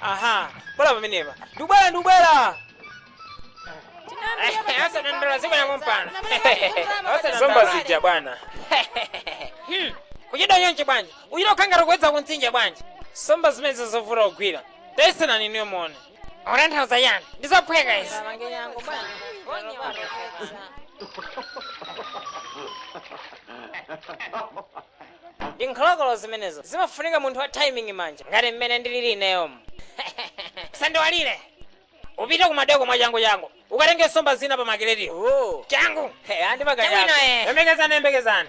aha bwera pamenepa ndikubwera ndikubwera asanandala zibwera kumpana zomba zija bwana Hmm, kuchita nyonje bwanji uchita kukangata kuwedza kuntsinje bwanji nsomba zimenezo zovuta kugwira tayesenani niyo muone Utanthauza chiyani? Ndi zophweka izi. Ndi nkholokolo zimenezo. Zimafunika munthu wa timing manja. Ngati mmene ndilili ineyomu. Sandiwalire. Upite kumadoko mwa changu changu. Ukatenge nsomba zina pa makiletiyo. Oh. Changu. Hey, andi Chabwino, maganyako. eh. Yembekezani, yembekezani.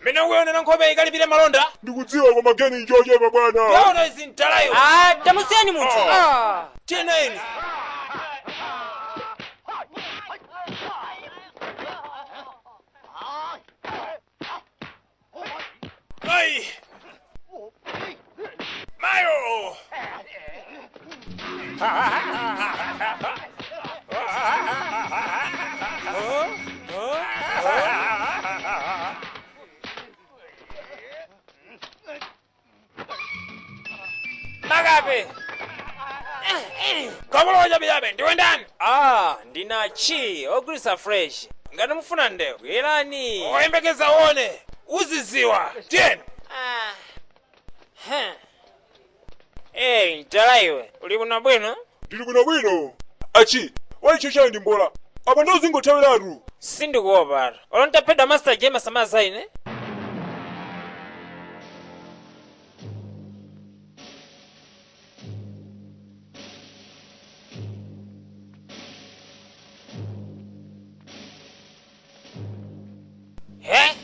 mmene ukuonera nkhope ikalipire malonda ndikudziwa koma geni njochepa bwana waona izi mtalayo Ah, tamusiyeni munthu Ah. cheneni ayi Mayo! Magabe! Kamunthu wachabe chabe, ndiwe ndani? Ah, ndinachi, ogulisa fresh. Ngati mufuna ndewu, yesani. Yembekeza uone. uziziwa tiyeni Ah. Huh. Hey, mtala iwe uli bwinobwino ndili bwinobwino achi waicho chayo ndi mbola apo nde uzingothawiratu sindikuopatu olo ntaphedwa master jema sumaza ine he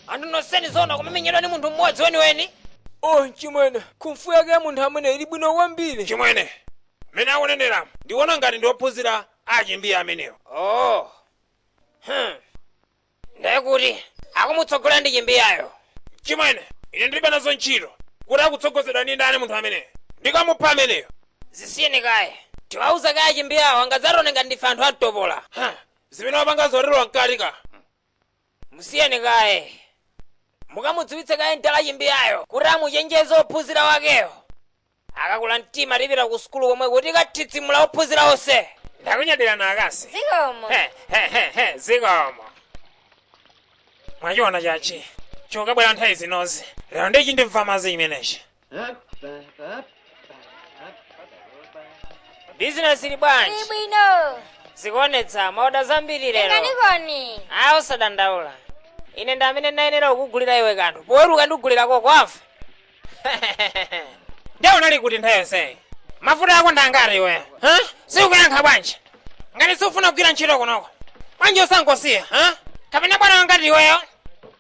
anthu nonseni zoona kumamenyedwa ni munthu mmodzi weniweni oh chimwene kumfu yake ya munthu ameneyo ili bwino kwambiri chimwene mmene akuneneramu ndiona ngati ndiophunzira achimbiye amenewo oh hmm. ndiye kuti akumutsogolera ndi chimbiyayo chimwene ine ndilibe nazo ntchito kuti akutsogozedwa ndi ndani munthu ameneyo ndikamupha ameneyo zisiyeni kaye tiwauze kaye chimbiyawo angadzatione ngati ndife anthu amtopola Huh. zimene wapanga zoterowa mkati ka musiyeni kaye mukamudziwitse kaye mdala chimbiyayo kuti amuchenjeze ophunzira wakeyo akakula mtima tipita ku sukulu komweko tikathidzimula ophunzira onse ndakunyadirani akazi zikomo He, he, he, he, zikomo mwachiona achi chikabwera nthawi zinozi lero nde chindimva madzi chimenechi bizinesi ili bwanji Ili bwino. zikuonetsa maoda zambiri lero Tenganikoni. ayi osadandaula ine ndi amene ndayenera kukugulira iwe kanthu poweruka ndikugulira koka wafa nde unali kuti nthawi yonseyi mafuta ako ndangati iwe ha? sikuyankha bwanji ngati sukufuna kugwira ntchito kunoko bwanji osangosiya ha? kapena bwana wangati iweyo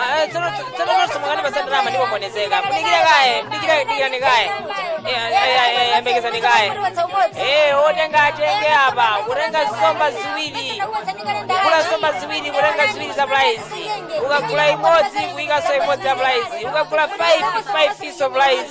Ah, tsono tsono nsomba mukandipasa ndalama ndipombonezeka mudikire kaye mudikire dikirani kaye Eh, eh, eh, eh, yembekezani kaye Eh, otenga atenge apa kutenga nsomba ziwiri kugula nsomba ziwiri kutenga ziwiri za prize ukagula imodzi kuyikanso imodzi ya prize ukagula 5 5 piece of prize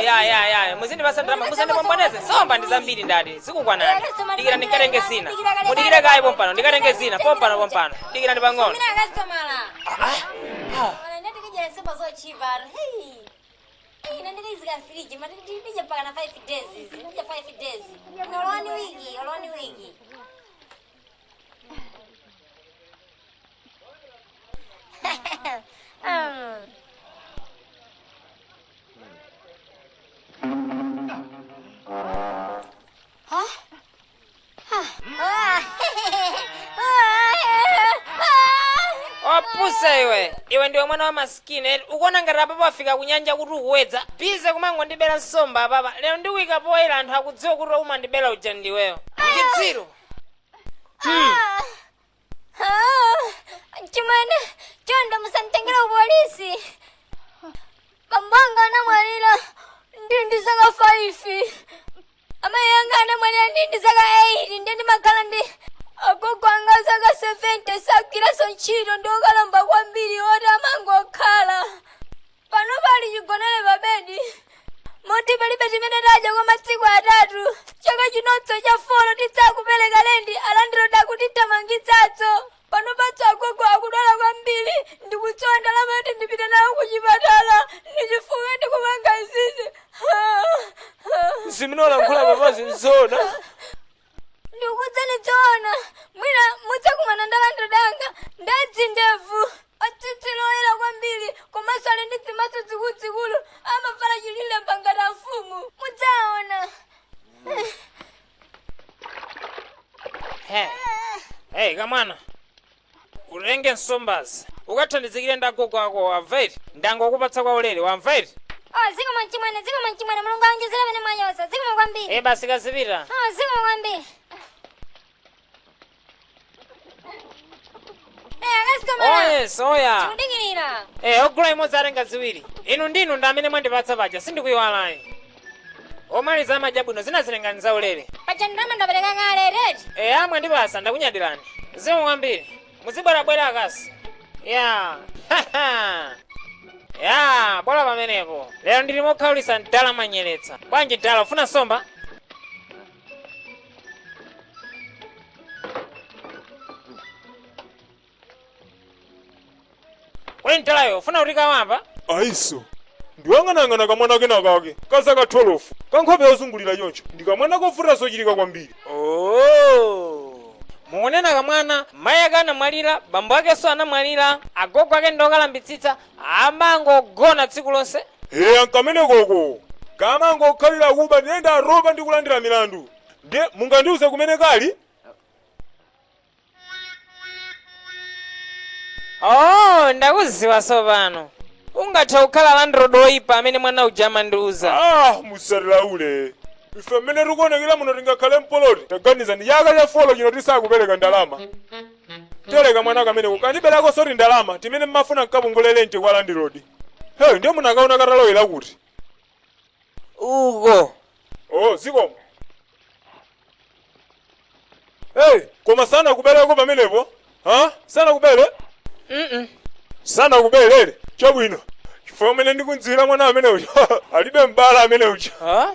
ya ya ya muzindipasa ndalama musandipomboneze nsomba ndi zambiri ndati zikukwanani dikira ndikatenge zina mudikire kaye pompano ndikatenge zina pompano pompano dikira ndi pang'ono opusa iwe iwe ndiwe mwana wa masikini eti ukuona ngati apapa wafika kunyanja kuti ukuwedza bize kumangondibera nsomba apapa lero ndikuika poyera anthu akudziwa kuti umandibera uja ndiweyo chitsiru chimene chonde musanditengere ku polisi bambo anga anamwalira ndili ndi zaka 5 amayi anga anamwalira ndili ndi zaka 8 ndi ndimakhala ndi agogo anga zaka 70 sagwiranso ntchito ndi okalamba kwambiri oti amangokhala panopa ali chigonere pa bedi moti palibe chimene tadya kwa masiku atatu chaka chinonso cha folo tisakupereka lendi alandilodi akutithamangitsanso panopanso agogo akudwala kwambiri ndikusowa ndalama yoti ndipite nawo ku chipatala ndichifukwa ndikumaba izizi zimene ukulankhula apazi nzona ndikukuuzani zoona mwina mudzakumana ndi alandilodi anga ndadzindevu atsitsi loyera kwambiri komanso ali ndi dzimaso dzikuludzikulu amavala chilile mba ngati a mfumu mudzaona Hey, kamwana. utenge nsombazi ukathandizikire ndi agogo akowo wamva eti ndangokupatsa kwa ulere wamva eti Oh, zikomo mchimwene, zikomo mchimwene, Mulungu aonjezere pamene mwachotsa. Zikomo kwambiri. e basi kazipita Oh, zikomo kwambiri. Eh, akasitomala. oyes oya Tikudikirira. e ogula imodzi atenga ziwiri inu ndinu ndi amene mwandipatsa paja sindikuyiwalani omaliza amadya bwino zinazi tengani za ulere paja ndalama ndapereka kale eti e amwene ndi basi ndakunyadirani zikomo kwambiri muzibwerabwera akasi ya ya bola pamenepo lero ndili mokhaulisa mdala mwanyowetsa bwanji mdala ufuna nsomba kodi mdala ukufuna kuti kakamba ayi sindinayang'aneyang'ane kamwana kena kake kazaka 12 kankhope yozungulira choncho ndi kamwana kovuta zochitika kwambiri Oh. mukunena kamwana mayi ake anamwalira bambo akenso anamwalira agogo ake ndi okalambitsitsa amangogona tsiku lonse eya nkamene koko kamangokhalira kuba ndi ndalama ndi kulandira milandu ndiye mungandiuze kumene kali oh ndakudziwa tsopano ungathe kukhala landlord woyipa amene mwana uja amandiuza ah musayankhule ife mmene tikuonekera muno tingakhale pa plot taganizani chaka cha four chino tisakupereka ndalama paja mwana kameneko kandiberakonso ndalama zimene mmafuna nkapungulire rent kwa landlord hey ndiye munakaona katalowera kuti uko oh zikomo hey koma sanakubereko pamenepo ha sanakubere mm sanakubere chabwino chifukwa mmene ndikumudziwira mwana amene uja alidi mbala amene uja ha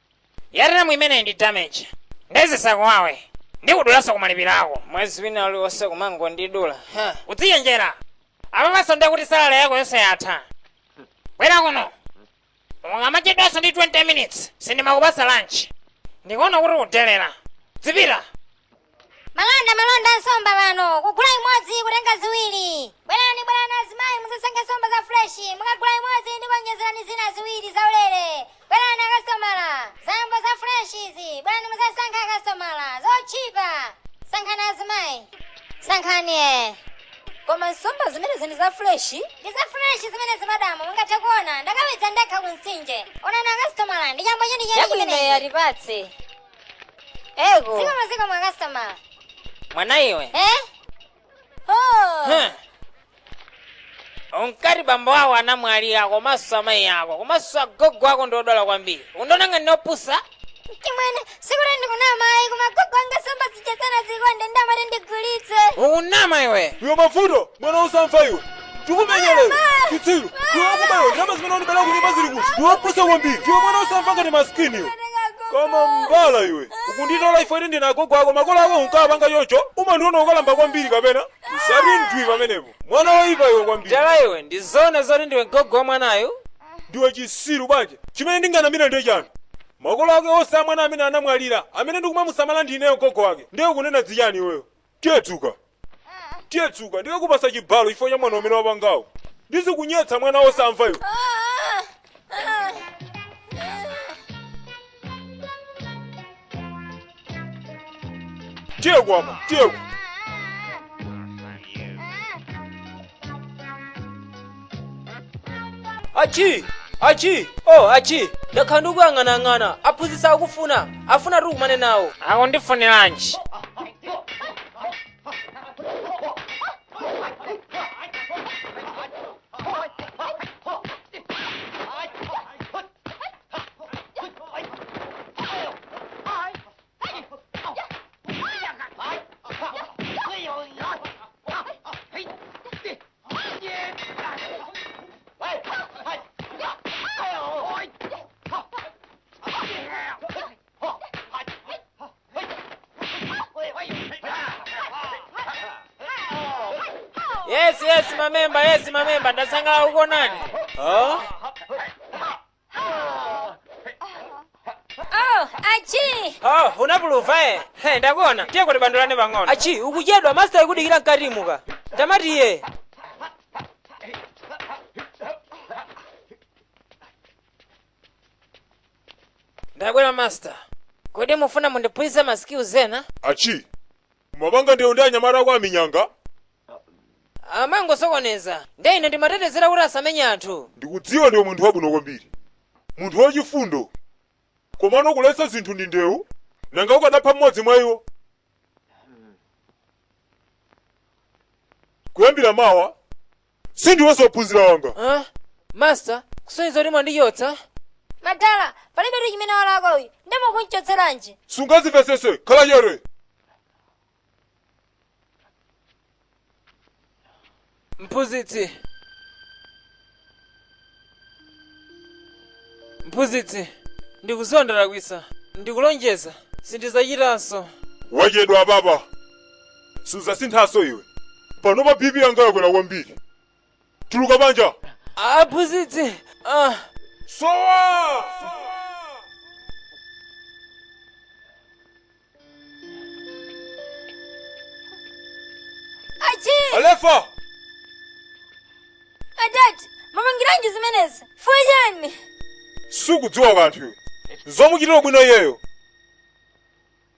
Yarram imeneyi ndi damage. Nde zisakuwawe. Ndikudulanso kumalipiro ako. Mwezi wina uliwonse kumangondidula. Huh. Udzichenjera. Apapanso nde kuti salary yako yonse yatha. Bwera kuno. Ukamachedwanso ndi 20 minutes. Sindimakupasa lunch. Ndikuona kuti ukudelera. Dzipita. malonda malonda a nsomba pano ogula imodzi atenga ziwiri bwerani bwerani azimayi muzasankhe nsomba za freshi mukagula imodzi ndikuonjezerani zina ziwiri zaulere bwerani akasitomala chambo za freshi izi bwerani muzasankhe akasitomala zotchipa sankhani azimayi sankhani e koma nsomba zimenezi ndi za freshi ndi za freshi zimenezi madamu mungathe kuona ndakawedza ndekha ku mtsinje onani akasitomala ndi chambo chenicheni chabwino chimenechi tatipatse Ego. Ziko maziko mwa customer. mwana iwe Eh? Oh. Huh. unkati bambo wako anamwalira komanso amayi ako komanso agogo ako ndi odwala kwambiri undiona ngati ndine opusa Achimwene, sikuti ndikunama ine koma gogo anga samba zichesana zikonde ndamare ndigulitse. ukunama iwe iwe mavuto mwana usamva iwe Tikumenyelera! Chitsiru! Iwe wakubayo ndalama zimene wanibela kunyumba zili kuti? Ndiwe opusa kwambiri! Ndiwe mwana osamva ngati masikini iwe! Koma mbala iwe! Ukunditola iwe eti ndine agogo ako makolo ako unkawapanga choncho? Umandiona ukalamba kwambiri kapena? Usati ndwii pamenepo! Mwana woyipa iwe kwambiri! Mbala iwe ndi zoona zoti ndiwe gogo wa mwanayu? ndiwe chisiru bwanji chimene ndinganamire ndiye chani makolo ake onse a mwana ameneyu anamwalira amene ndikumamusamala ndineyo gogo wake ndiye ukunena zichani iweyo tiye dzuka tiye dzuka ndikakupasa chibalo chifukwa cha mwano umene wapangawo ndizikunyetsa mwana wosamva iwe tiye kwapa tiye achi achi oh achi ndakhala ndikuyang'anayang'ana aphunzitsi akufuna afuna ukakumane nawo akundifuniranji yes yes mamemba yes mamemba ndasangalala kukuonani oh? Oh, achi! Oh, unapuluva eh? He, ndakuona. Tiyeko tibandulane pang'ono. Achi, ukuchedwa master akudikira mkatimu. Tamati iye. Ndabwera master. Kodi mufuna mundiphunzitse ma skills ena? achi umapanga ndewu ndi anyamata ako aminyanga amangosokoneza nde ine ndimatetezera kuti asamenye anthu. Ndikudziwa ndiwe munthu wabwino kwambiri, munthu wachifundo, komano kuletsa zinthu ndi ndewu? Nanga ukanapha mmodzi mwa iwo? Kuyambira mawa sindiwenso wophunzira wanga. Huh? Master, kusonyeza kuti mwandichotsa? madala palibetu chimene walakwa uyu nde mukumuchotseranji sungazivesese khala chete mphunzitsi mphunzitsi ndikuziwa ndalakwisa ndikulonjeza sindizachitanso wachedwa apapa sudzasinthanso iwe panopa bp yanga yakwera kwambiri tuluka panja aphunzitsi ah. sowa achialefa adati mumapangiranji zimenezi ifuyo chani sukudziwa kanthu iwe zomuchitira bwino iyeyo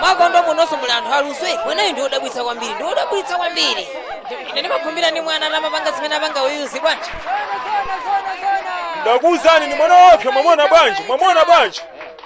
mwakondo munonso muli anthu aluso iweneyi ndi odabwitsa kwambiri ndi odabwitsa kwambiri ine ndimakhumbira ndi mwana atamapanga zimene wapanga uyuzi bwanji ndikuwuzani ndi mwana wopsa mwamona bwanji mwamona bwanji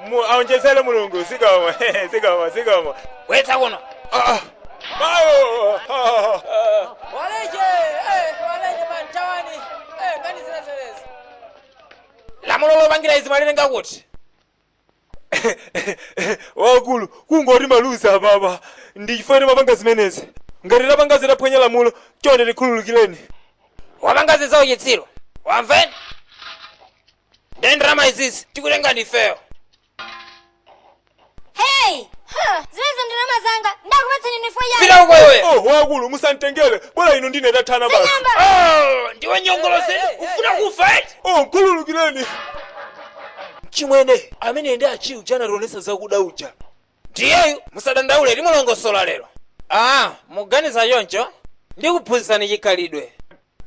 Mu- aonjezere mulungu zikomo zikomo zikomo bweretsa kuno Ah, ah. Mayo! Ah, ah, ah. waleje eh, waleje mwathawani eh, ngani zinazeleza lamulo lopangira izi mwalenga kuti wakulu kungoti maluzi apapa ndichifukwa timapanga zimenezi ngati tapanga zophwanya lamulo chonde tikhululukireni wapanga zizawo chitsiru wamveni nde ndalama izizi tikutenga ndifeyo hey ha, zimenezo ndalama zanga ndakupatsani nthawi yake pita uko iwe oh wakulu musantengere bola ino ndine tathana basi Sing'amba. Oh, ndiwe nyongolo zedi ufuna kufa eti oh nkhululukireni mchimwene amene ndi achiujeni anationesa zakuda uja Ndiyeyu musadandaule timulongosola lero. Aaa muganiza choncho? Ndikuphunzitsani chikhalidwe.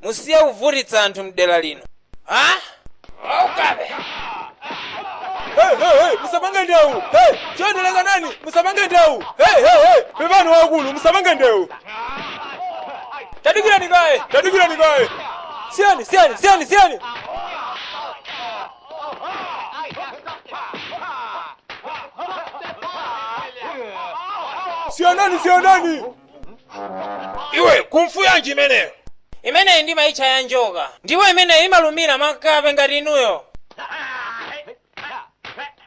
Musiye kuvutitsa anthu mdera lino. Ha? Waukabe. Hey, hey, hey, musapange ndewu hey, chonde lekanani musapange ndewu hey, hey, hey, pepani waukulu musapange ndewu tadikirani kaye tadikirani kaye siyani siyani siyani siyani siyanani siyanani iwe kungfu yanji imeneyo imeneyi ndi amaitcha ya njoka ndipo imeneyi imalumira makape ngati inuyo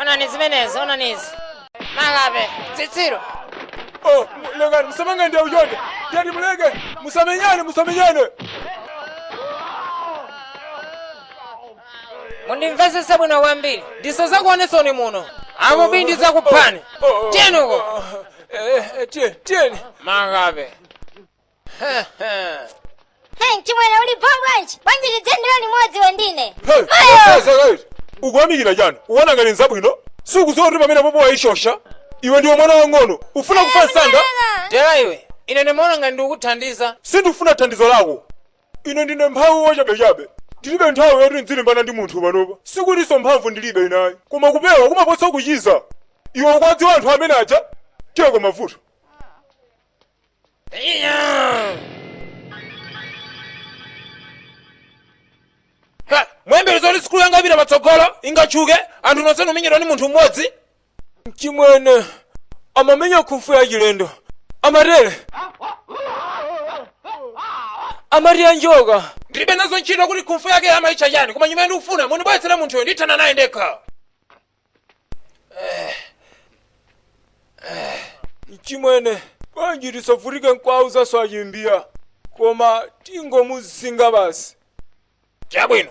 onani zimenezi onani izi makape zitsiru Oh, lekani musapange ndewu chonde. Tiyeni muleke. Musamenyane, musamenyane. mundimvesese bwino kwambiri ndisazakuoneninso muno apo bii ndizakuphani tiyeni uko Eh, eh, tiye- tiyeni. makape Hey, chimwene uli bho bwanji bwanji m'dzendere limodzi wendine Mayo! ukuyamikira chani ukuona ngati nzabwino sukudziwa kuti pamenepo wayishosha iwe ndiwe mwana wang'ono ufuna kufa msanga tamvera iwe ine ndimaona ngati ndikukuthandiza sindifuna thandizo lako ine ndine mphawi wachabechabe ndilibe nthawi yoti ndzilimbana ndi munthu panopa sikutinso mphamvu ndilibe inayi koma kupewa kumaposa kuchiza iwe ukuwadziwa anthu amene aja tiyeko mavuto Ha, muyembekeza zoti sukulu yanga ipita patsogolo ingatchuke anthu nonse kumenyedwa ndi munthu mmodzi chimwene amamenya khung'fu yachilendo amatere amati yanjoka ndilibe nazo ntchito kuti khung'fu yake amayitcha chani koma chimene ndikufuna mundibweretsere munthuyo ndithana naye ndekha mchimwene bwanji tisavutike nkuwauzanso achimbiya koma tingomuzinga basi chabwino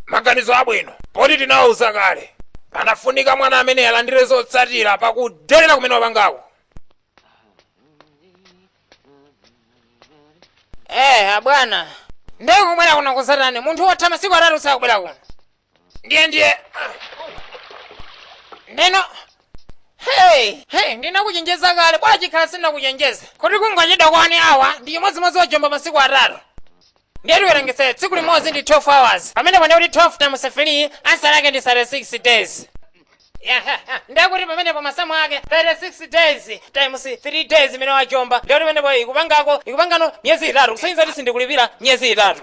maganizo abwino poti tinawauza kale anafunika mwana amene alandire zotsatira zakudelera kumene wapangako Eh, abwana. Nde ukubwera kuno kudzatani. Munthu wotha masiku atatu usakubwera kuno. ndiye ndiye ndeno hey hey ndinakuchenjeza kale bwana chikhala sinakuchenjeza kuti kungochedwa kwa one hour ndi chimodzimodzi wajomba masiku atatu ndiye tiwerengetse tsiku limodzi ndi 12 hours pamenepo nde kuti 12 times 3 ansala yake ndi 36 days ndiye kuti pamenepo masamu ake 36 days times 3 days imene wajomba ndiye kuti pamenepo ikupangako ikupangano miyezi itatu kusonyeza kuti sindikulipira miyezi itatu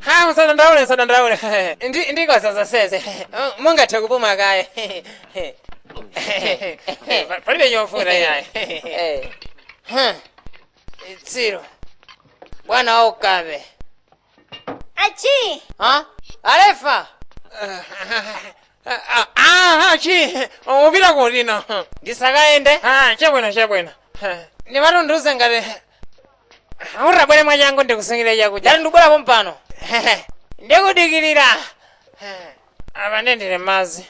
ha musadandaule musadandaule Ndi- ndikoza zonsezi mungathe kupuma kaye Pa- palibe chovuta yayi chitsiru bwana waukabe achi ha alefa aha chi upita kuti no ndisakayende chabwino chabwino ndimatunduze ngati utabwere mwachangu ndikusungire chakudya tati ndikubwera pompano ndikudikirira apa ndendere madzi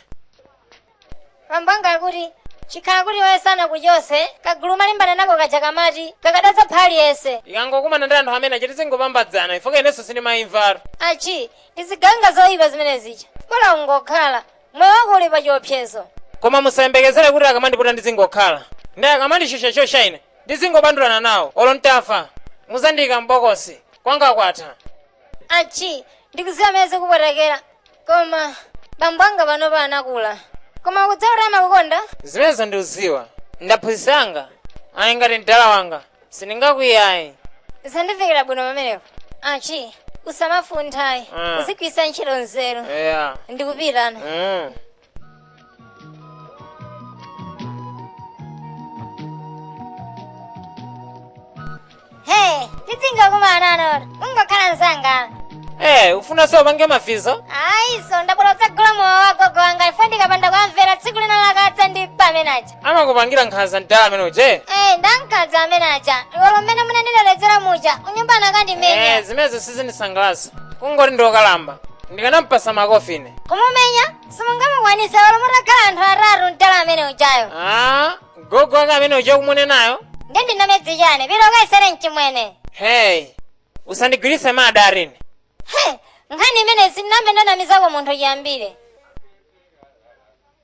pambanga akuti chikhala kuti iwe sanakuchotse kagulu umalimbana nako kaja kamati kakadatsa pa aliyense ikangokumana ndi anthu amene achiti zingophambadzana ifoka inenso sindimaimvatu achi ndiziganga zoyipa zimene zija bola ungokhala moyo wako uli pa chiopsezo koma musayembekezere kuti akamandiputa ndizingokhala ndi akamandishosha shosha ine Ndizingobandulana nawo olo ntafa. Kuzandiika m'bokosi, kwanga kwatha. Achi, ndikuziwa mmene zikupwetekera. Koma bambo anga panopa anakula. Koma ukudziwa kuti amakukonda? Zimenezo ndikuziwa. Ndaphunzitsa mwanga. Ayi ngati mdala wanga. Sindingakwiye ayi. Sizandifikira bwino pamenepo. Achi, usamafunthayi. Ah. Uzigwiritsa ntchito nzeru. Eya. Ndikupitano. Mm. Hey, tizingokumana not. Ungokhala mzanga. Eh, ufuna so upange mafizo? Ayi, so ndabwera kuzagula mowa wagogo wanga paja ndikapanda kwamvera tsiku lina la katsa ndi amene aja. amakupangira nkhanza mdala amene uje Eh, ndi ankhanza amene aja iwolo mmene munandiledzeretsa muja kunyumba anakandimenya Eh, zimenezo sizindisangalatsa kungoti ndiokalamba ndikanampatsa makofi ine kumumenya simungamukwanisa iwolo mutakhala anthu atatu mdala amene ujayo Ah, gogo wake amene uje ukumunenayo ndi wa namedzi chani pita ukayesere mchimwene hey usandigwiritse mada arini He, nkhani imeneyi sinambe ndanamizako munthu chiyambire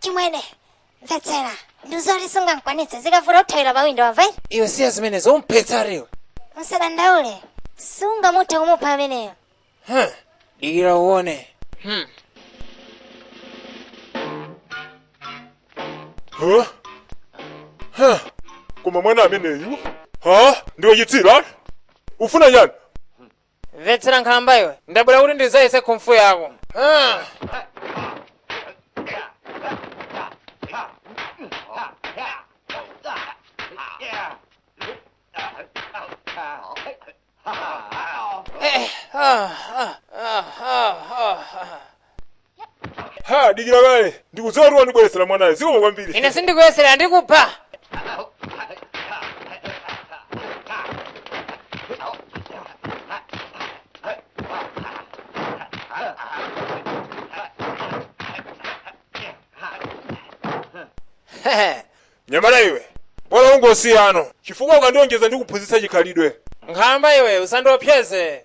chimwene mvetsera ndizoti sungamkwanitse zikavuta uthawire pa windo wamva iwe siya zimenezo umphetsa aliwe musadandaule sungamuthe kumupha ameneyo Huh, dikira uone hmm. Huh? Huh. koma mwana ameneyu ha ndiwe chitsira ufuna chani Mvetsera nkhalamba iwe, ndabwera kuti ndizayese nkhufu yako. Ah! Eh, ah, ah, ah, ah, ah, ah. ha dikira kaye ndikudziwa kuti wandibweretsera mwanayo zikomo kwambiri ine sindikuyesera ndikupha mnyamata iwe bola ungosiya no chifukwa ukandionjeza ndikuphunzitsa chikhalidwe nkhalamba iwe usandiopseze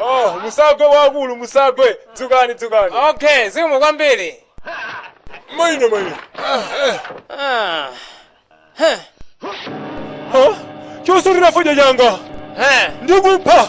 Oh, musagwe wakulu musagwe dzukani dzukani okay zikomo kwambiri maine maine Ah, huh, ha chosutira fodya changa huh. ndikupha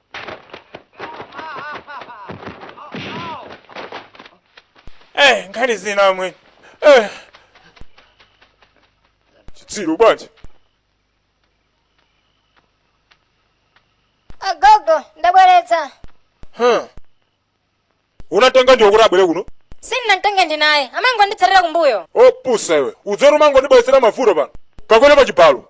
Eh, nkhani zina amwe. Eh. Chitsiru bwanji? agogo ndabweretsa Huh. Unamtenga ndiwe kuti abwere kuno? sindinamtenge ndine amangonditsatira kumbuyo Wopusa iwe. Usamangondibweretsera mavuto pano. Kakwere pa chibalo.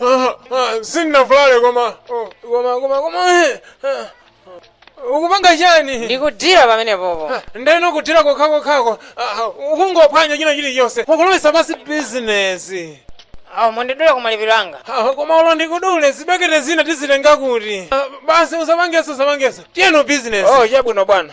Ah, ah, sinnavulale koma oh, koma koma koma eh, ah, ukupanga chani ndikudyera pamene popo ndeno kudyera kokhakokhako ukungophwanya china chilichonse ukulowesa pansi bizinesi awo mundidule ku malipiro anga Ah, koma ulo ndikudule zibekete zina tizitenga kuti Ah, basi usapangeso usapangeso tiyeno bizinesi oh chabwino bwana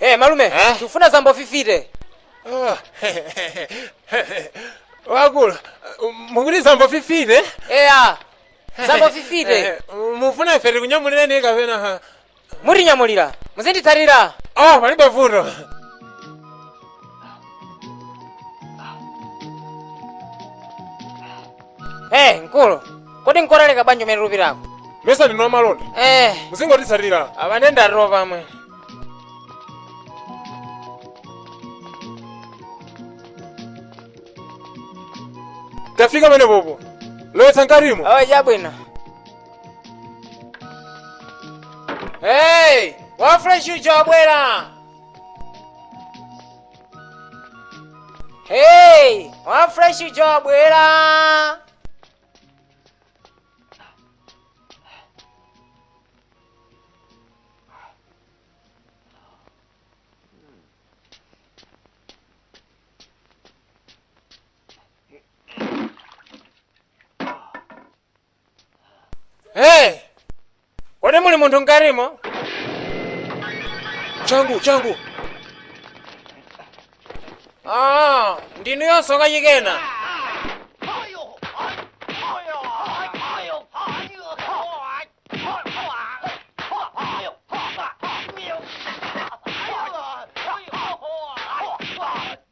Hey, malume Eh? tikufuna zambo 50 wakulu mukuti zambo 50 eya zambo 50 mufuna ife tikunyamulireni kapena mudzinyamulira muzinditsatira oh palibe vuto Hey, mkulu. Kodi n'kotalika bwanji komwe tikupitako? mmesa ndinu amalonda Eh, muzingonditsatira abane ndariro pamwe. tafika pamene popo lowetsa mkatimo Awa chabwino. Hey, wa fresh uja wabwera. Hey, wa fresh uja wabwera. hey! kodi muli munthu mkatimo changu changu ah, ndinu inunso kachikena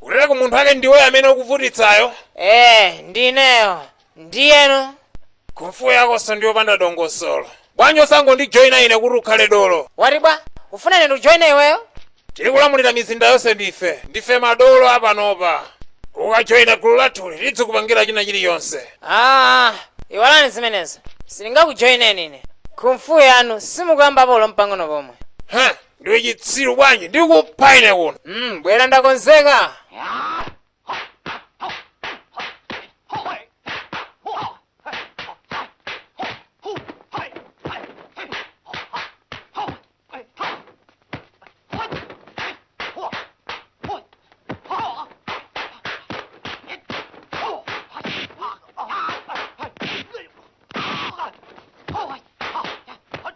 kuteroko munthu ake ndiweyo amene ukuvutitsayo ee ndineyo ndiyeno kung'fu yakonso ndi yopanda dongosolo bwanji osangondijoyina ine kuti ukhale dolo wati bwanji ufuna ine ndijoyine iweyo tikulamulira mizinda yonse ndife ndife madolo apanopa ukajoyina gulu lathuli tidzikupangira china chilichonse aa iwalani zimenezo sindingakujoyineni ine kung'fu yanu sindikuyiopa ulo mpang'ono pomwe Heh, ndiwe chitsiru bwanji ndikupha ine kuno mm, bwera ndakonzeka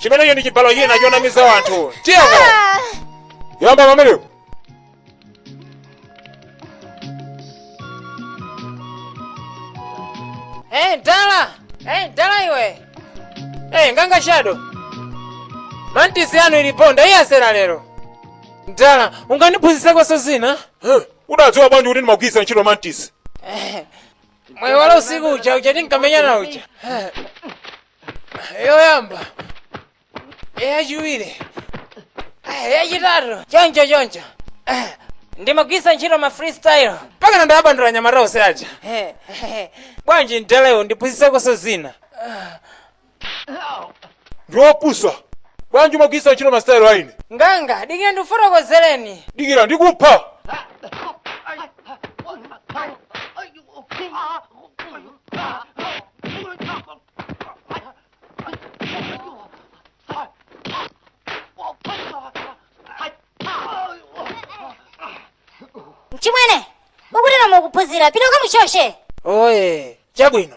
chimenecho ndi chibalo china chonamiza anthu tiyeko yamba pamenepo Eh, mtala! Eh, mtala iwe! Eh, nganga shadow! Mantisi yanu ili ponda, iye asera lero! Mtala, ungandiphunzitsakonso zina? unadziwa bwanji kuti ndimagwiritsa ntchito mantisi Eh, mwaiwala usiku uja uja tinkamenyana uja yoyamba yachiwiri yachitatu choncho choncho ndimagwisa ntchito ma freestyle mpaka ndinawabandula anyamata onse aja bwanji mtelewo mundiphunzitsekonso zina ndiwopusa bwanji umagwiritsa ntchito masitayilo a ine nganga dikira ndikufotokozereni dikira ndikupha mchimwene akutero mukuphunzira pita ukamuchotse oye chabwino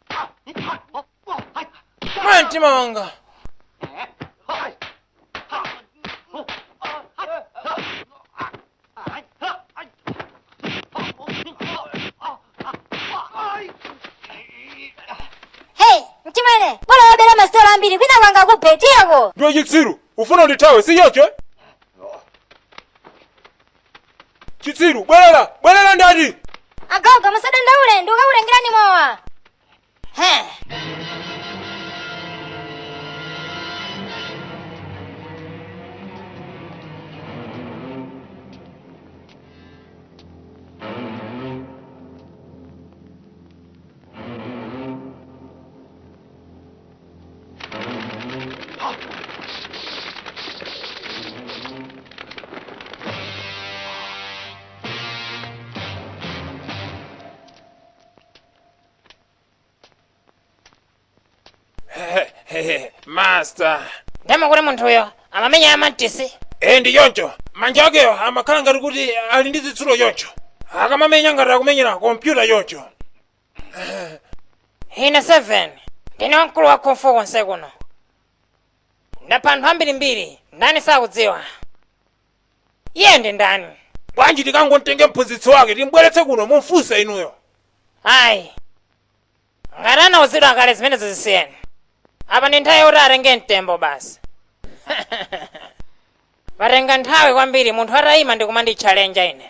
mwa mtima wanga hey mchimwene bora wabera masitolo ambiri kwina kwanga kuphe tiyeko ndiwe chitsiru ufuna undithawe sichoncho chitsiru bwerera bwerera ndati agoga musadandaule ndikukakutengerani mowa he master ndamva kuti munthuyo amamenya ya mantisi e ndi choncho manja akeyo amakhala ngati kuti ali ndi zitsulo choncho akamamenya ngati akumenyera kompyuta choncho ine 7 ndine wamkulu wa kung fu konse kuno ndapha anthu ambirimbiri ndani sakundidziwa iye ndi ndani bwanji tikangomtenge mphunzitsi wake timbweretse kuno mumfunse inuyo ayi ngati anauzidwa kale zimenezo zisiyeni apa ndi nthawi yokuti atenge mtembo basi patenga nthawi kwambiri munthu atayima ndikumanditchalenja ine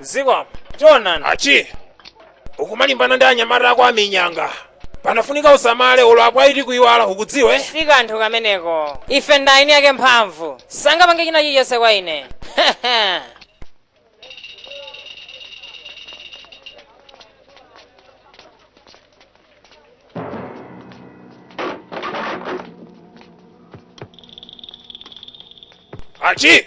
zikomo chonani achi ukumalimbana ndi anyamata ako aminyanga panafunika usamale ulo akwaiti kuiwala ukudziwa si kanthu kameneko ife ndi eni ake mphamvu sangapange china chilichonse kwa ine Archie!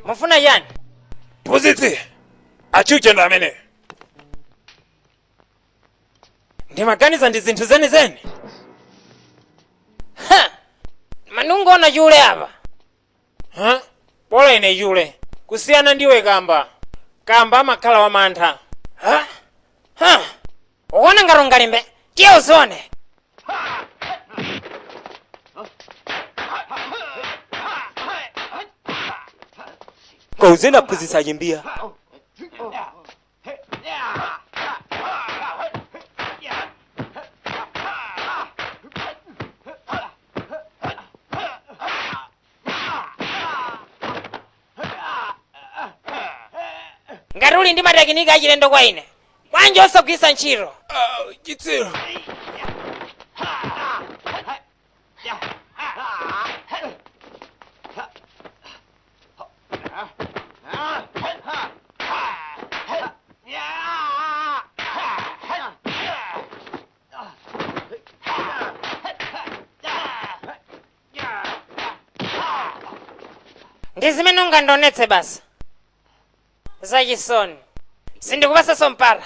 mufuna chani Phunzitsi! Archie uchendo amene! ndimaganiza ndi zinthu zenizeni Ha! mongoona chule apa Huh? Bola ine chule. Kusiyana ndiwe kamba. Kamba amakhala wamantha. Huh? Huh? Ukuona ngati ungalimbe? Tiye uzione. Kauzeni aphunzitsi achimbiya. ngati uli ndi matekiniki achilendo kwa ine bwanji osagwiritsa ntchito Ah, chitsiru ndi zimene ungandionetse basi zachisoni sindikupatsanso mpata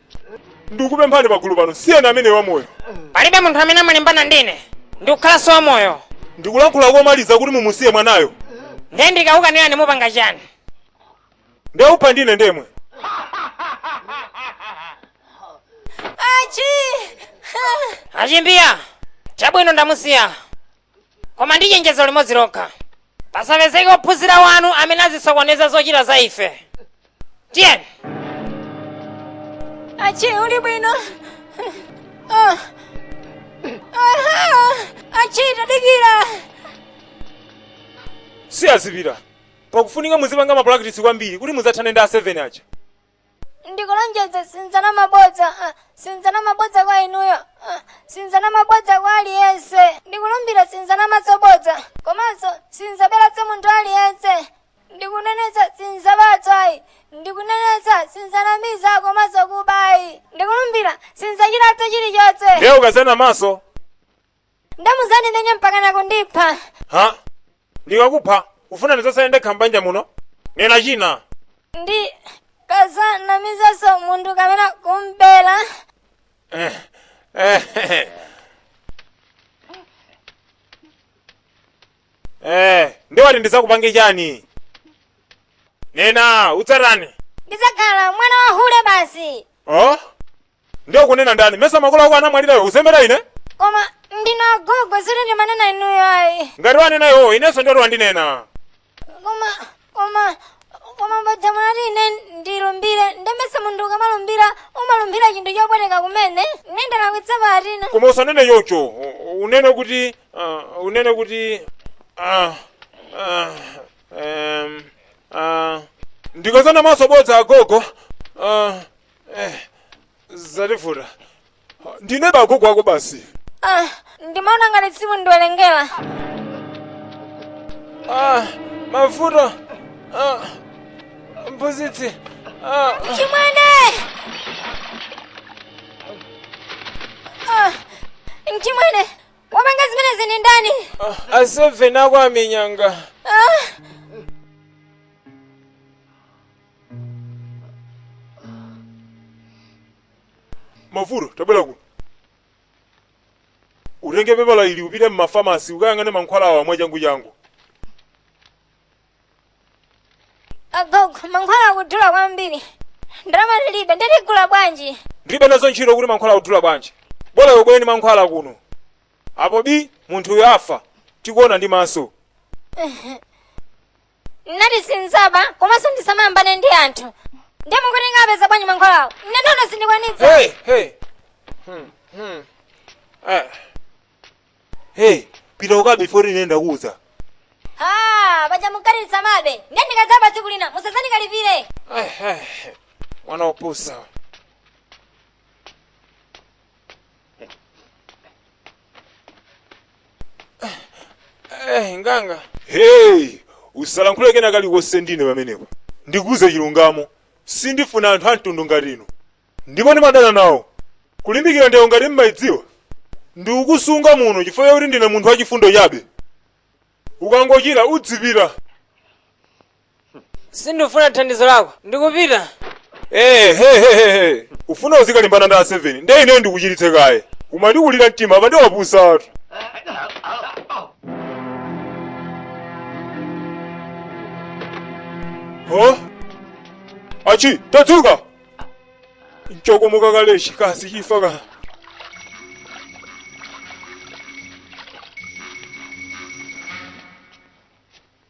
ndikupemphani pagulu pano siyeni ameneyo wamoyo palibe munthu amene amalimbana ndi ine n'kukhalanso wamoyo ndikulankhula komaliza kuti mumusiye mwanayo ndiye ndikakukanirani mupanga chani ndiwe wakupha ndine ndemwe achi achimbiya chabwino ndamusiya koma ndi chenjezo limodzi lokha pasapezeke ophunzira wanu amene azisokoneza zochita za ife tiyeni Achi, uli bwino? Ah. Aha! Achi, tadikira! siya azipita pakufunika muzipanga mapulakitisi kwambiri kuti muzathane ndi a 7 aja ndikulonjeza sinzanama bodza ah, sinzanama bodza kwa inuyo ah, sinzanama bodza kwa aliyense ndikulumbira sinzanamaso bodza komanso sinzaberaso munthu aliyense ndikunenetsa sinzabaso ayi ndikunenetsa sinzanamiza komanso kuba ayi ndikulumbira sinzachitaso chilichonse ndiye ukazanamaso nde muzandimenya mpaka nakundipha ha ndikakupha ufuna ndizasale ndekha mbanja muno nena china ndikazanamizaso munthu kapena kumbera eh, eh, eh. eh, ndiye wati ndizakupange chani nena uzatani ndizakhala mwana wa hule basi oh Ndiye ukunena ndani? Mesa makolo ako anamwalira iwe usewera ine? Koma ndinu agogo sindimanena inuyo ayi. Ngati wanena iwowo inenso ndiye kuti wandinena. Koma koma koma paja munati ine ndilumbire nde mesa munthu ukamalumbira umalumbira chinthu chopweteka kumene ine ndalakwitsa pati apa. Koma usanene choncho. U- Unene kuti ah, unene kuti ah, ah, em, ah, ndikazanamaso bodza agogo. ah, Eh, zativuta. Ndine be agogo ako basi. Ah, ndimaona ngati simundiwerengera. Ah, mavuto. Ah, mphunzitsi. Ah, Chimwene! Ah, Chimwene, wapanga zimenezi ndi ndani? ah, aseven ako amenyanga. Ah, mavuto tabwera kuno utenge pepala ili upite m'mafamasi ukayang'ane mankhwala awa mwachangu changu agogo mankhwala akudula kwambiri ndalama tilibe nde tigula bwanji ndilibe nazo ntchito kuti mankhwala akudula bwanji bola ubwere ndi mankhwala kuno apo bii munthuyo afa tikuona ndi maso Mwati sinzaba komanso ndisamayambane ndi anthu. Ndiye mukuti ndikapeza bwanji mankhwalawo? Ine nono sindikwanitsa. Hey, hey. Hmm, hmm. Ah. Hey, pita ukabe before ine ndakuuza. Ah, paja munati usamabe. Ndiye ndikadzaba tsiku lina musazandikalipire. Ai, ai. Mwana opusa. Eh, nganga. hey usalankhule kena kalikonse ndi ine pamenepo ndikuuze chilungamo sindifuna anthu amtundu ngati inu ndipo ndimadana nawo kulimbikira ndewo ngati mumayidziwa ndikukusunga muno chifukwa chakuti ndine munthu wachifundo chabe ukangochira udzipita Sindifuna thandizo lako. Ndikupita. Ehehehe! Ufuna uzikalimbana ndi a 7 nde ineyo ndikuchiritse kaye? Umandikulira mtima apa nde wapusatu. Huh? Achi, tadzuka! Nchokomoka kale chikazi chifa ka.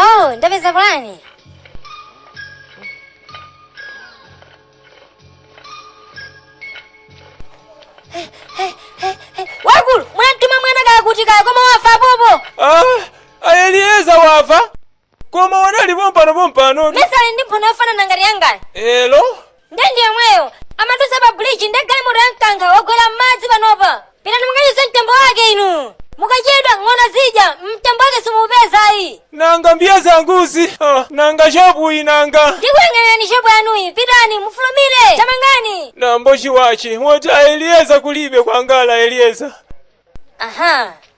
Oh, ndapeza pulani. Wakulu, munamtuma mwana uja kuti kaya koma wafa popo. Ah, ayeliyeza wafa koma anali pompano pompano mesa ali ndi mphuno yofanana ngati yangayo elo nde ndi yemweyo amadutsa pa bridge nde galimoto yamukankha wagwera m'madzi panopa pitani mukachotse mtembo wake inu mukachedwa ng'ona zidya mtembo wake simupeza ayi nanga mbiya zanguzi ah, nanga shopu inanga ndikuyang'anirani shopu yanuyi pitani mufulumire tamangani nambo chiwachi woti a Eliyeza kulibe kwangala Eliyeza aha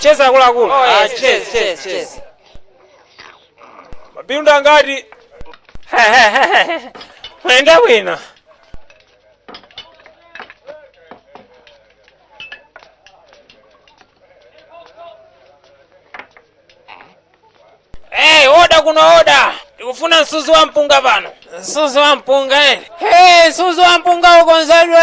cheza akuluakulu Oh, yes, cheza, cheza, cheza. mabindu angati mwayenda bwino Hey, oda kuno oda tikufuna msuzi wa mpunga pano msuzi wa mpunga eh. hey, msuzi wa mpunga ukonzedwe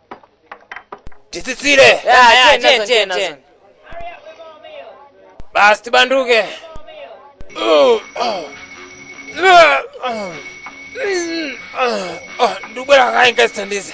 titsitsire Ya, ya, tiye, tiye, tiye. basi tibanduke ndikubwera kaye ndikazithandize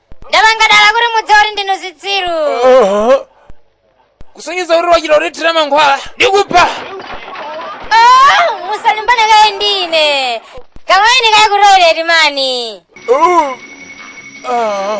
ndapanga dala kuti mudziwe kuti ndinu zitsiru Oho. kusonyeza kuti wachita kutithira mankhwala ndikupha Oh, musalimbane kaye ndine kamuoneni kaye ku toilet mani Uh. Ah.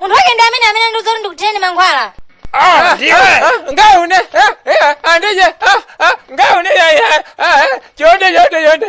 munthu wake ndi ameneyu amene wandiuza kuti ndikuthireni mankhwala Ah, ndiwe. ngaune andije ngaune yaya chonde chonde chonde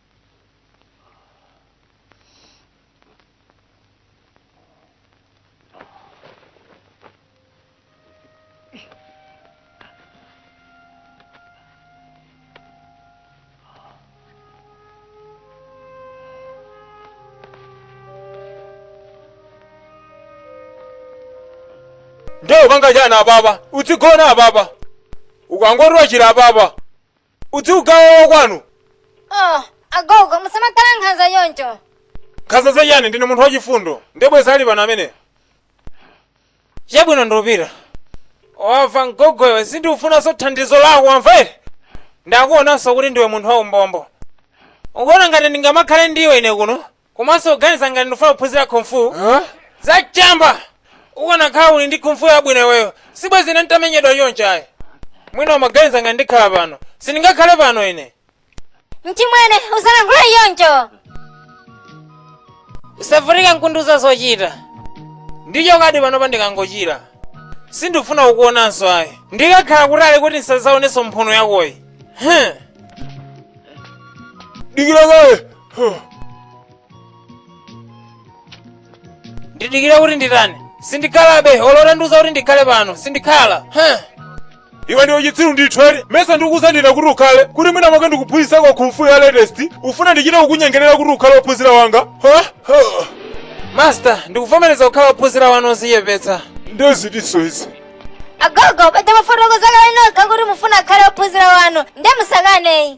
nde ukapanga chani apapa udzigona apapa ukangoti wachira apapa uziuyamba wakwanu oh agogo musamakhala nkhanza choncho nkhanza zachani ndine munthu wachifundo nde bwenzi ali pano amene chabwino ndikupita wamva mgogo iwe sindikufunanso thandizo lako wamva eti ndakuonanso kuti ndiwe munthu waumbombo ukuona ngati ndingamakhale ndiwe ine kuno komanso ukuganiza ngati ndikufuna kuphunzira kung fu zachamba ukanakhala uli ndi kung fu yabwino iweyo sibwezi ine ntamenyedwa choncho ayi mwina umaganiza ngati ndikhala pano sindingakhale pano ine mchimwene usalankhule choncho usavutike nkundiuza zochita ndichokadi pano ndikangochira sindifuna kukuonanso ayi ndikakhala kutali kuti ndisazaonenso mphuno yakoyi Huh. dikira kaye ndidikira kuti nditani sindikhalabe olo utandiuza kuti ndikhale pano sindikhala Huh. iwe ndiwe chitsiru ndithu eti mesa ndikukuuzira kuti ukhale kuti mwina mwake ndikuphunzitseko kung fu ya latest ukufuna ndichite kukunyengerera kuti ukhale wophunzira wanga Ha? Ha. master ndikuvomereza kukhala wophunzira wanu odzichepetsa nde zitinso izi agogo paja munafotokoza kale nokha kuti mukufuna akhale ophunzira wanu ndiye musakane ayi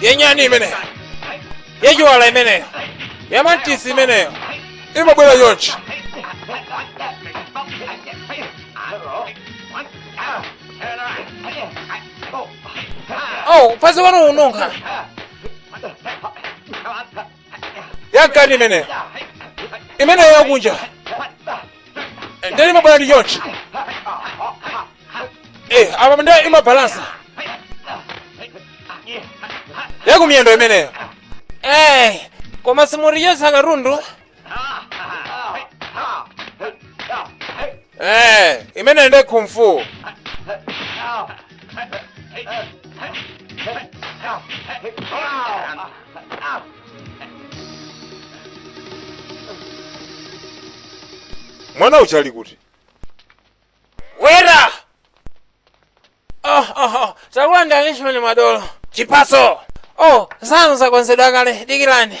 yanyani imeneyo yachiwala imeneyo yamantisi imeneyo imabwera chonchi oh phazi wanu ukununkha yamkati imeneyo imeneyo yakunja nde imabwera ndi chonchi Eh, apa nde imabalansa ya kumiyendo imeneyo Eh, koma simuriyosa katundu Eh, imeneyo ndi kung fu mwana uja ali kuti bwera oh, oh, oh. takulandirani achimwene madolo chipatso oh zanu zakonzedwa kale dikirani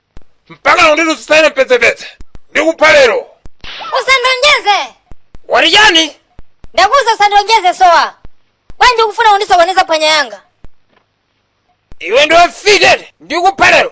mpaka lero ndinu zisayire mpedzepedze ndikupha lero usandilonjeze wati chani ndakuuza usandilonjeze sowa bwanji ukufuna kundisokoneza phwanya yanga iwe ndiwe mfiti eti ndikupha lero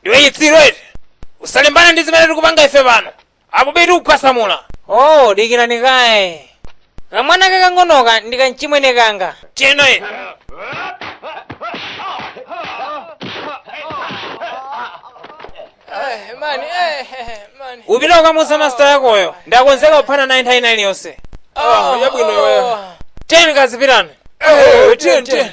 ndiwe chitsiru eti usalimbane ndi zimene tikupanga ife pano apo bi tikukhwasamula oh dikirani kaye kamwana kakang'onoka ndi kamchimwene kanga tiyeno ine mani mani upita ukamuuza masita yakoyo ndakonzeka kuphana naye nthawi ina iliyonse Ah, yabwino iweyo. tiyeni kazipitani Eh, tiyeni, tiyeni.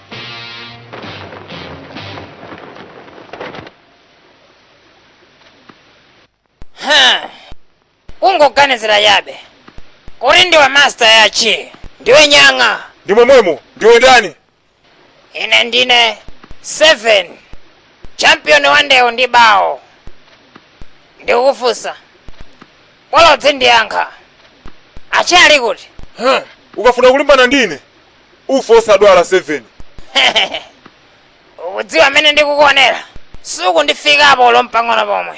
Ha! ukungoganizira chabe kuti ndiwe masta achi ndiwe nyang'a ndi momwemo ndiwe ndani ine ndine 7 champion wa ndewu ndi bawo ndikukufunsa bolodzi ndiyankhe achi ali kuti Huh, ukafuna kulimbana ndine ufa osadwala 7 ukudziwa mmene ndikukuonera sukundifikapo olo mpang'ono pomwe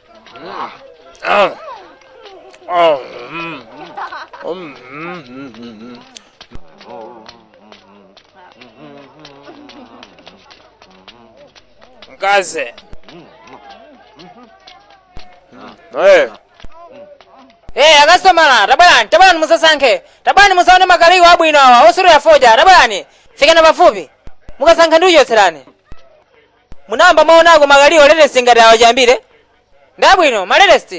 Mkazi. Hey. Hey, akastomala, tabwerani, tabwerani mudzasankhe. Tabwerani mudzaone makaliwo abwino awa, osutira fodya, tabwerani. Fikani pafupi. Mukasankha ndikuchotserani. Munayamba mwaonako makaliwo a latest ngati awa chiyambire? Ndi abwino, ma latest.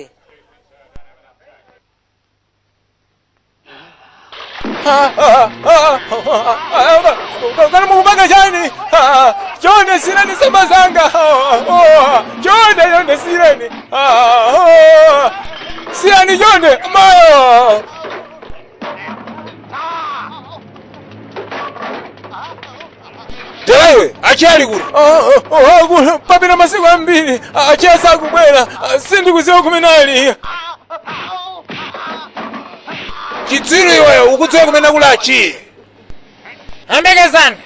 Kana mukupanga chani? Chonde siyani samba zanga. Chonde chonde siyani. Siyani chonde. Mayo. Mdalawe, Achi ali kuti? papita masiku ambiri Achi asakubwera sindikudziwa kumene ali Chitsiru iweyo ukudziwa kumene kuli Achi. Ambekezani.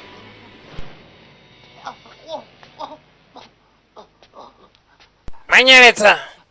Manyeretsa.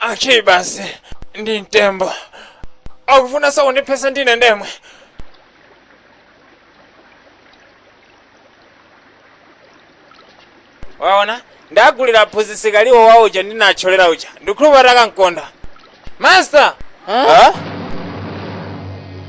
Ali pansi ndi mtembo. Akufuna zondiphetsa ndi ine ndemwe. Waona? Ndagulira aphunzitsi kaliwo wa uja ndinatcholera uja. Ndikhulupirira akamkonda. Master! Huh?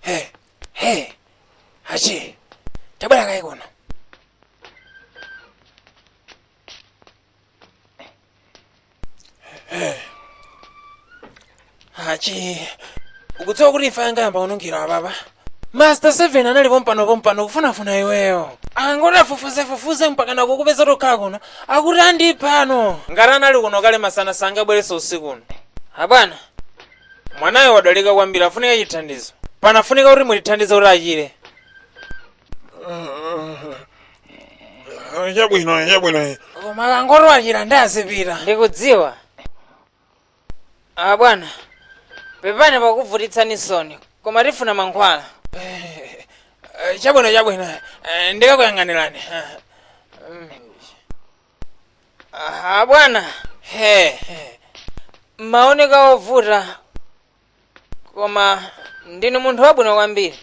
Hey, hey, Achi, tabwera kaye kuno. Hey. Achi, ukudziwa kuti imfa ingayambe kununkhira ababa? Master 7 anali pompano pompano kufunafuna iweyo. Akangoti afufuze fufuze mpaka kukupeza uthoka kuno. Akuti andipha pano. Ngati anali kuno kale masana sangabwerenso usiku uno. Abwana, mwanayo wadwalika kwambiri afunika chithandizo. Panafunika kuti mulithandize kuti achire. Chabwino, chabwino. Koma akangoti wachira ndiye azipita. Ndikudziwa. Ah, bwana. Pepani pakuvutitsani soni, koma tifuna mankhwala. Eh, eh, Chabwino chabwino. Eh, Ndikakuyang'anirani. Ah, mm. Ah, bwana. He. he. Maoneka ovuta koma ndinu munthu wabwino kwambiri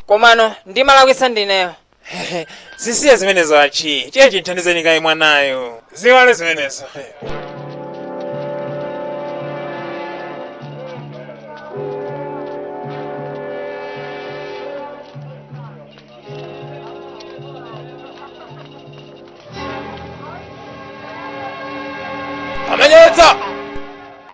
komano ndimalakwitsa ndineyo zisiye zimenezo achi tiye timthandizeni kaye mwanayo ziwale zimenezo amenyetsa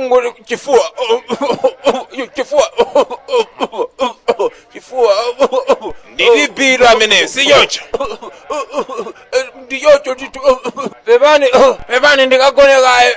ngoli chifuwa chifuwa chifuwa ndili biro amene si choncho ndi choncho ndithu pepani pepani ndikagone kaye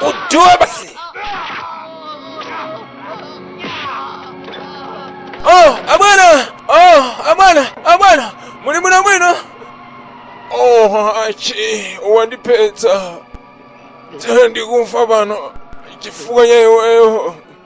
Ujue basi. Oh, abwana. Oh, abwana, abwana. Muli bwinobwino. Oh, achi, wandiphetsa. Tsa ndikufa pano. Chifukwa cha iweyo.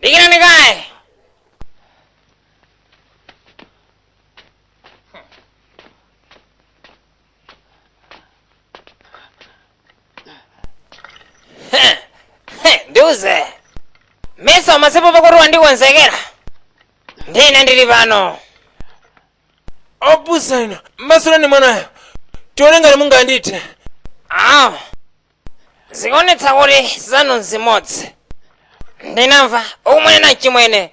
Dikirani guys. Ndikuuze. Mesa masipo poti wandikonzekera. Ndiye ndili pano. opusa inu masulani mwanayo tione ngati mungandithe ah zikuonetsa kuti zanu nzimodzi ndinamva ukumwenena chimwene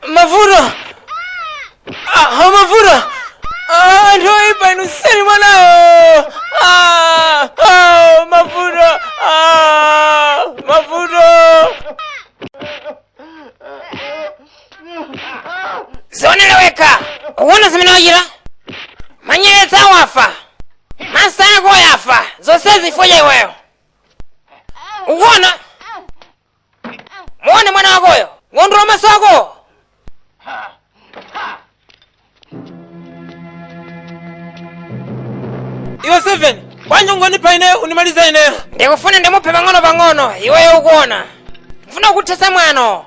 mavuto Ah, mavuto Ah, anthu oyipa inu siyeni mwanayo Ah, ah, mavuto Ah, mavuto udzionere wekha ukuona zimene wachita manyeretsa awafa masa ako yafa zonse chifukwa cha iweyo ukuona muone mwana wakoyo ndikolowola maso ako iwe seveni bwanji ungondipha ineyo undimalize ineyo ndikufuna ndimuphe pang'ono pang'ono iweyo ukuona ndifuna kuthetsa mwano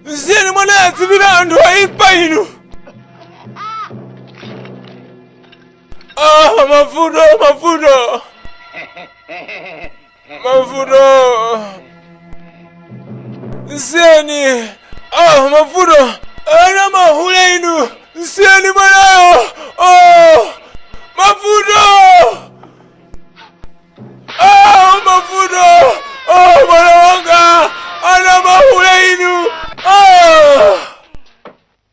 msiyeni mwanayo adzipita anthu oipa inu ah mavuto mavuto mavuto nsiyeni ah mavuto ana mahule inu nsiyeni mwanayo oh mavuto ah mavuto oh mwana wanga ana mahule inu ah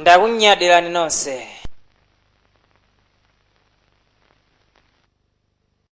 ndakunyadirani nonse